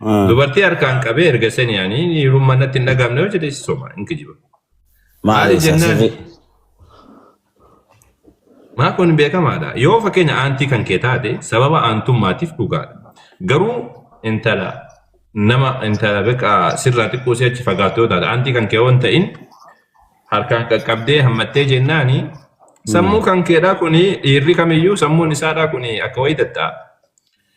Ah. Dubartii harkaan qabee erga sanii ani hiirummaa natti hin dhagahamne yoo jedhe soma hin kijiba. Maali Maali jennaan? sasirri? Maa kun beekamaadha. Yoo fakkeenya aantii kan kee taate sababa aantummaatiif dhugaadha. Garuu intala nama intala beekaa sirraa xiqqoo si achi fagaattu yoo taate aantii kan kee waan ta'in harkaan qaqqabdee hammattee jennaani sammuu kan keedhaa kuni dhiirri kamiyyuu sammuun isaadhaa kuni akka wayii dadha'a.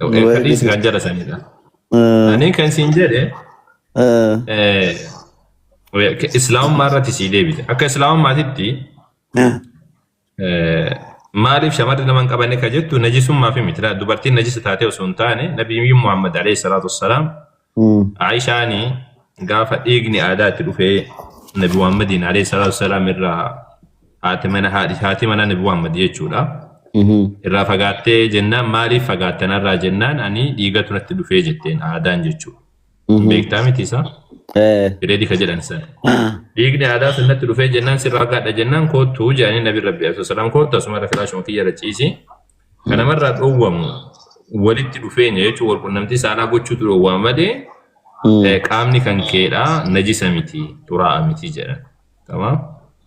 Waa'ee Fedhiis kan jala sanidha. Ani kan siin jedhe islaamummaa irratti sii deebite. Akka islaamummaatitti maaliif shamarri nama hin qabanne kan jettu najisummaaf miti. Dubartiin najisa taatee osoo hin taane nabiyyuu Muhammad alayhi salaatu wassalaam Aishaani gaafa dhiigni aadaa itti dhufee Nabi Muhammadiin alayhi salaatu wasalaam irraa haati mana haadhi haati mana Nabi Muhammad jechuudha. Irraa fagaattee jennaan maaliif fagaatte narraa jennaan ani dhiigatu natti dhufee jetteen aadaan jechuudha. Beektaa miti isaa? Bireedii ka jedhan sana. Dhiigni aadaa sun natti dhufee jennaan sirraa fagaadha jennaan koottuu jedhanii Nabi Rabbi alayhi salaam koottu asuma irra filaashuma kiyya irra ciisi. Kan namarraa dhoowwamu walitti dhufeenya jechuun wal qunnamtii saalaa gochuutu dhoowwama malee Mm. eh, qaamni kan keedhaa najisa miti xuraa'a miti jedhan. Tamam?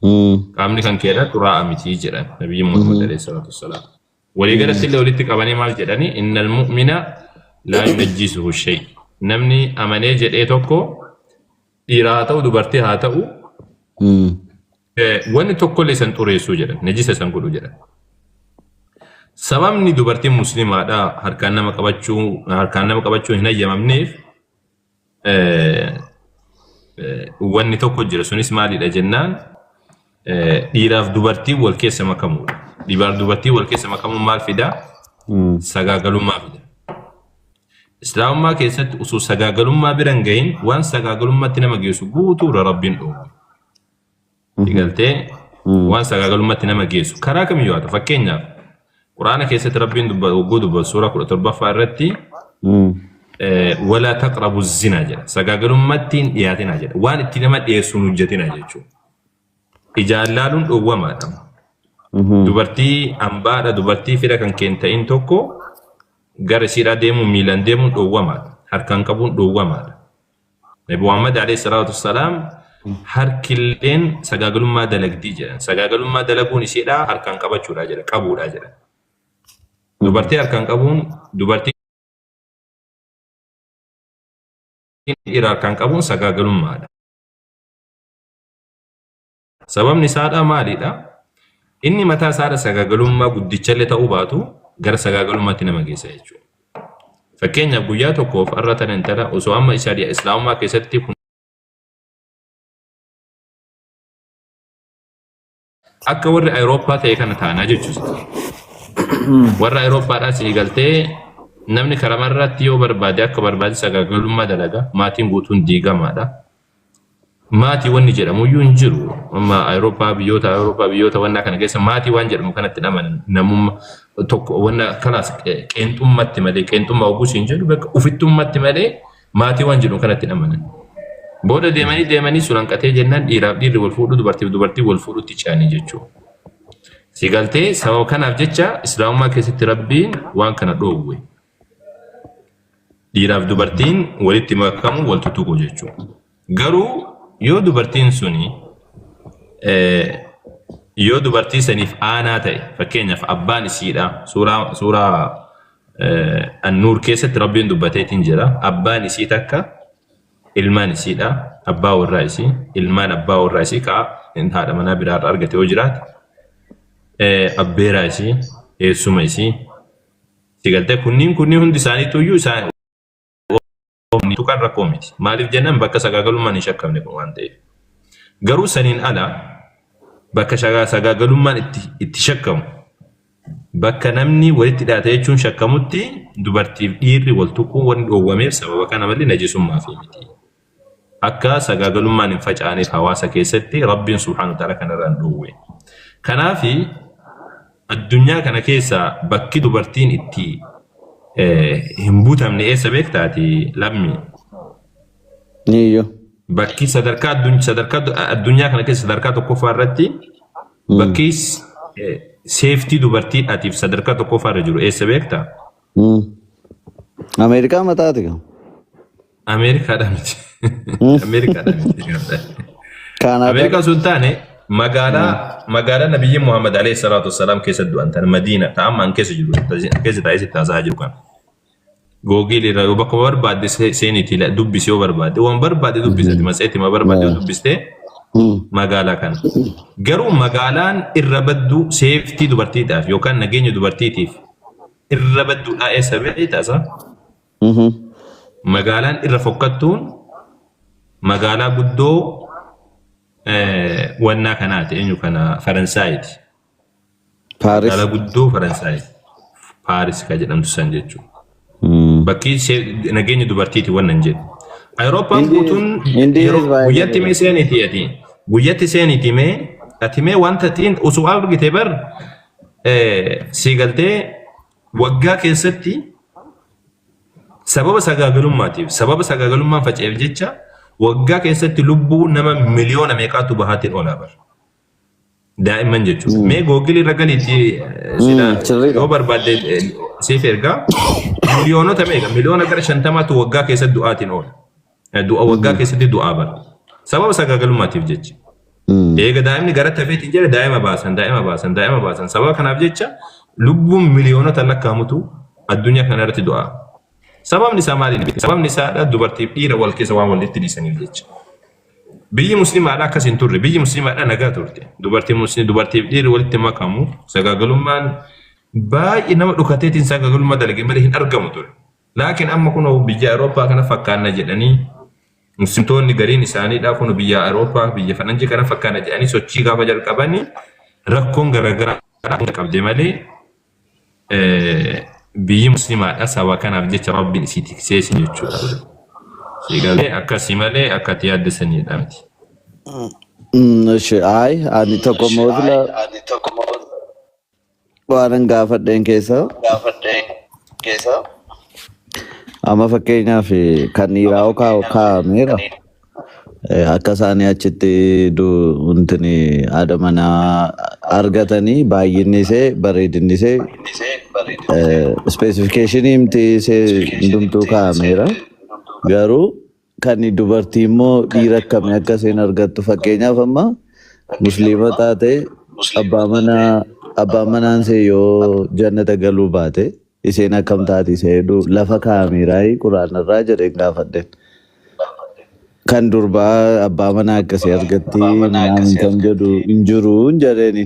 Mm. Qaamni kan keedhaa xuraa'a miti jedhan nabiyyiin Muhammad alayhi salaatu wassalaam. Walii galatti illee walitti qabanii maal jedhanii innal mu'mina laa yunajjisuhu shay. Namni amanee jedhee tokko dhiiraa haa ta'u dubartii haa ta'u Mm. Wanni tokkollee san xureessuu jedhan, najisa san godhu jedhan. Sababni dubartiin muslimaadha harkaan nama qabachuu harkaan nama qabachuu hin hayyamamneef wanni tokko jira sunis maalidha jennaan dhiiraaf dubartiin wal keessa makamuudha. Dhiiraaf dubartiin wal keessa makamuun maal fidaa? Sagaagalummaa fida. Islaamummaa keessatti osoo sagaagalummaa bira hin gahin waan sagaagalummaatti nama geessu guutuudha rabbiin dhoowwe. Galtee waan sagaagalummaatti nama geessu karaa kamiyyuu haa ta'u fakkeenyaaf quraana keessatti rabbiin hogguu dubbatu suuraa kudha torbaffaa irratti walaa taqrabu zinaa jedha sagaagalummaatti hin dhiyaatinaa jedha waan itti nama dhiyeessu hin hojjetinaa jechuudha. Ijaan laaluun dhowwamaadha. Dubartii ambaadha dubartii fira kan keen ta'in tokko gara isiidhaa deemuun miilaan deemuun dhowwamaadha harkaan qabuun dhowwamaadha. Nabi Muhammad alayhi salaatu wassalaam harkilleen sagaagalummaa dalagdii jedhan. Sagaagalummaa dalaguun isheedhaa harkaan qabachuudhaa jedha, qabuudhaa jedha. Dubartii harkaan qabuun dubartii dhiira harkaan qabuun sagaagalummaadha. Sababni isaadhaa maalidha? Inni mataa isaadha sagaagalummaa guddichallee ta'uu baatu gara sagaagalummaatti nama geessa jechuudha. Fakkeenyaaf guyyaa tokkoof har'a tana intala osoo amma shari'a islaamummaa keessatti kun akka warri Awurooppaa ta'e kana taanaa jechuudha. Warra Awurooppaadhaa sii galtee namni karamarratti yoo barbaade akka barbaade sagaagalummaa dalaga maatiin guutuun diigamaadha. Maatii wanni jedhamu iyyuu hin jiru. Amma Awurooppaa biyyoota Awurooppaa biyyoota wannaa kana keessa maatii waan jedhamu kanatti hin amanan. Namumma tokko wanna kalaas qeenxummatti malee qeenxummaa oguu siin jedhu bakka ufittummatti malee maatii waan jedhamu kanatti hin amanan. Booda deemanii deemanii sun hanqatee jennaan dhiiraaf dhiirri wal fuudhu dubartiif dubartii wal fuudhutti ce'anii jechuudha. Si galtee sababa kanaaf jecha islaamummaa keessatti rabbiin waan kana dhoowwe. Dhiiraaf dubartiin walitti makamu wal tuttuqu jechuudha. Garuu yoo dubartiin suni yoo dubartii saniif aanaa ta'e fakkeenyaaf abbaan isiidha suuraa suuraa annuur keessatti rabbiin dubbateetiin jira abbaan isii takka ilmaan isiidha abbaa warraa isii ilmaan abbaa warraa isii kaa haadha manaa biraarra argate yoo jiraate abbeeraa isii eessuma isii Sigalte kunniin kunniin hundi isaaniitu iyyuu isaan tuqan rakkoo miti. Maaliif jennaan bakka sagaagalummaan hin shakkamne kun waan ta'eef. Garuu saniin ala bakka sagaagalummaan itti, itti shakkamu bakka namni walitti dhiyaate jechuun shakkamutti dubartiif dhiirri wal tuquun wanni dhoowwameef sababa kana malee najisummaaf miti. akka sagaagalummaan hin facaaneef hawaasa keessatti Rabbiin subhaanahu wa ta'aalaa kana irraa nu dhoowwe. Kanaafi addunyaa kana keessaa bakki dubartiin itti hin butamne eessa beektaati lammii? Eeyyo. Bakki sadarkaa addun- sadarkaa du- addunyaa kana keessa sadarkaa tokkoffaa irratti bakki s- eh, seeftii dubartiidhaatiif sadarkaa tokkoffaa irra jiru eessa beektaa? Mm. Ameerikaa mataati kan. Ameerikaadha miti. Ameerikaadha miti. Kaanaada. Ameerikaa sun taane magaalaa magaalaa nabiyyi Muhammad alayhi salaatu wassalaam keessa du'an tan Madiina ta amma an keessa jiru an keessa taa'ee sitti haasaa jiru kana. Googiil irraa yoo bakka barbaadde se- seeniitii la- dubbisi yoo barbaadde waan barbaadde dubbisati matseetii ma barbaadde yoo dubbistee Mm. magaalaa kana. Garuu magaalaan irra badduu seeftii dubartiidhaaf yookaan nageenya dubartiitiif irra badduudhaa eessa beektaasa? Magaalaan irra fokkattuun magaalaa guddoo wannaa kanaati eenyu kana Faransaayiti. Paaris. Magaalaa guddoo Faransaayiti. Paaris ka jedhamtu san jechuudha. Bakki see- nageenyi dubartiiti wannan jedhu. Awurooppaan Hindi- guutuun Hindi yeroo is baay'ee guyyatti mee seeniiti ati. Guyyatti seeniiti mee ati mee wanta xiin osoo argite bar eh, sii galtee Waggaa keessatti sababa sagaagalummaatiif, sababa sagaagalummaan faca'eef jecha waggaa keessatti lubbuu nama miliyoona meeqaatu bahaatiin oolaa bara. Daa'imman jechuudha. Mee googilii irra galiitti eh, sila Mm, sirriidha. yoo barbaadde eh, siif ergaa miliyoonota meeqa miliyoona gara shantamaatu waggaa keessatti du'aatiin oola. Du'a waggaa Mm. keessatti du'aa bara. Sababa sagaagalummaatiif jecha. Mm. Eega daa'imni gara tafeetiin jedhe daa'ima baasan, daa'ima baasan, daa'ima baasan. Sababa kanaaf jecha lubbuun miliyoonota lakkaa'amutu addunyaa kana irratti du'a. Sababni isaa maali? Sababni isaa dubartiif dhiira wal keessa waan walitti dhiisaniif jecha. Biyyi musliimaadhaa akkas hin turre. Biyyi musliimaadhaa nagaa turte. Dubartiin musliim dubartiif dhiirri walitti makamu sagaagalummaan baay'ee nama dhukateetiin sagaagalummaa dalage malee hin argamu ture. Laakiin amma kunoo biyya Awurooppaa kana fakkaanna jedhanii Muslimtoonni gariin isaaniidhaa kunu biyya Awurooppaa biyya faranjii kana fakkaanna jedhanii sochii gaafa jalqabanii rakkoon garagaraa hunda qabde malee biyyi muslimaadha saba kanaaf jecha rabbiin isii tiksee isin jechuudha. Siigalee akkasii malee akka ati yaadde saniidha miti. Mm, Ishi ayi ani tokko mootila Waanan gaafadheen keessa amma fakkeenyaaf kan dhiiraa hoo kaa'u kaa'ameera. Eh, Akka isaanii achitti du- wantini haadha manaa argatanii baay'inni isee bareedinni isee ispeesifikeeshinii himti isee hundumtuu kaa'ameera. Garuu Kan dubartii immoo dhiira akkamii akka isheen argattu fakkeenyaaf amma musliima taate abbaa manaa abbaan manaan see yoo jannata galuu baate isheen akkam taati isa hedduu lafa kaa'ameeraayii quraanarraa jedheen gaafadheen. Kan durbaa abbaa manaa akkasii argatti minaan kan jedhu hin jiru hin jedheeni.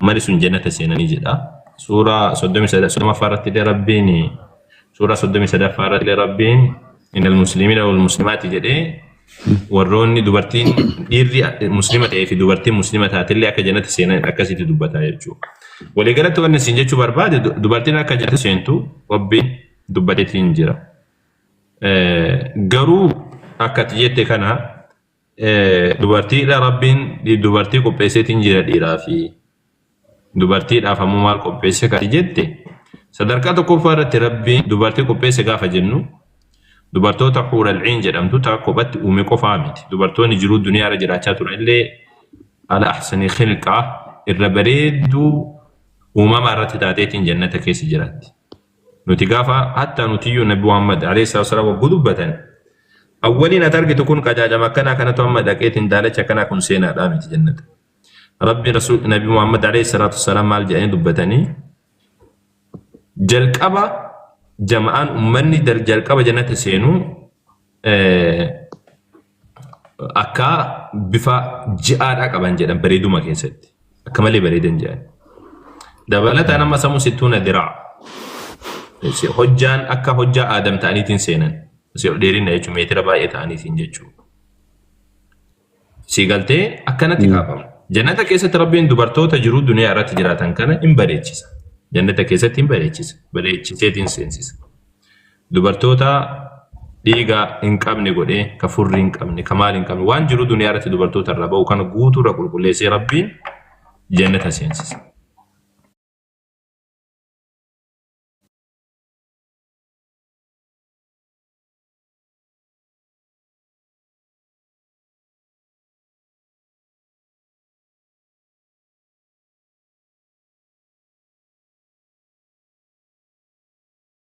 Mali sun jannata seenanii jedha. Suuraa 33ffaa irratti illee Rabbiin suuraa 33ffaa irratti illee Rabbiin innal muslimiina wal muslimaati jedhee warroonni dubartiin dhiirri muslima ta'ee fi dubartiin muslima taatillee akka jannata seenan akkasitti dubbata jechuudha. Waliigalatti wanni isin jechuu barbaade du- dubartiin akka jannata seentu Rabbiin dubbateetiin jira. Eh, Garuu akka ati jette kana Dubartiidha rabbiin dubartii qopheesseetiin jira dhiiraa fi dubartiidhaaf ammoo maal qopheesse kan jette sadarkaa tokkoffaa irratti rabbiin dubartii qopheesse gaafa jennu dubartoota huuralciin jedhamtu taa kophatti uume qofaa miti dubartoonni jiruu duniyaa irra jiraachaa turan illee ala ahsanii khilqaa irra bareedduu uumamaa irratti taateetiin jannata keessa jiraatti. Nuti gaafa hattaa nutiyyuu Nabi Muhammad alayhi salaatu wassalaam wagguu dubbatan awwaliin ati argitu kun qajaajama akkanaa kanatu amma dhaqeetiin daalachi akkanaa kun seenaadhaa miti jannata. Rabbi Rasuul Nabi Muhammad alayhi salaatu wassalaam maal jedhanii dubbatanii jalqaba jama'aan ummanni dal- jalqaba jannata seenuu eh, Akka bifa ji'aadhaa qaban jedhan bareeduma keessatti. Akka malee bareedan jedhan. Dabalataan amma samu situna diraa. Hojjaan akka hojjaa aadam ta'aniitiin seenan. Si ol dheerinna jechuun meetira baay'ee ta'aniitiin jechuudha. Si galtee akkanatti kaafamu. Jannata keessatti rabbiin dubartoota jiruu duniyaa irratti jiraatan kana hin bareechisa. Jannata keessatti hin bareechisa. Bareechiseetiin seensisa. Dubartoota dhiiga hin qabne godhee, ka furrii hin qabne, ka maal hin qabne, waan jiru duniyaa irratti dubartoota irraa ba'u kana guutuu irra qulqulleessee Rabbiin jannata seensisa.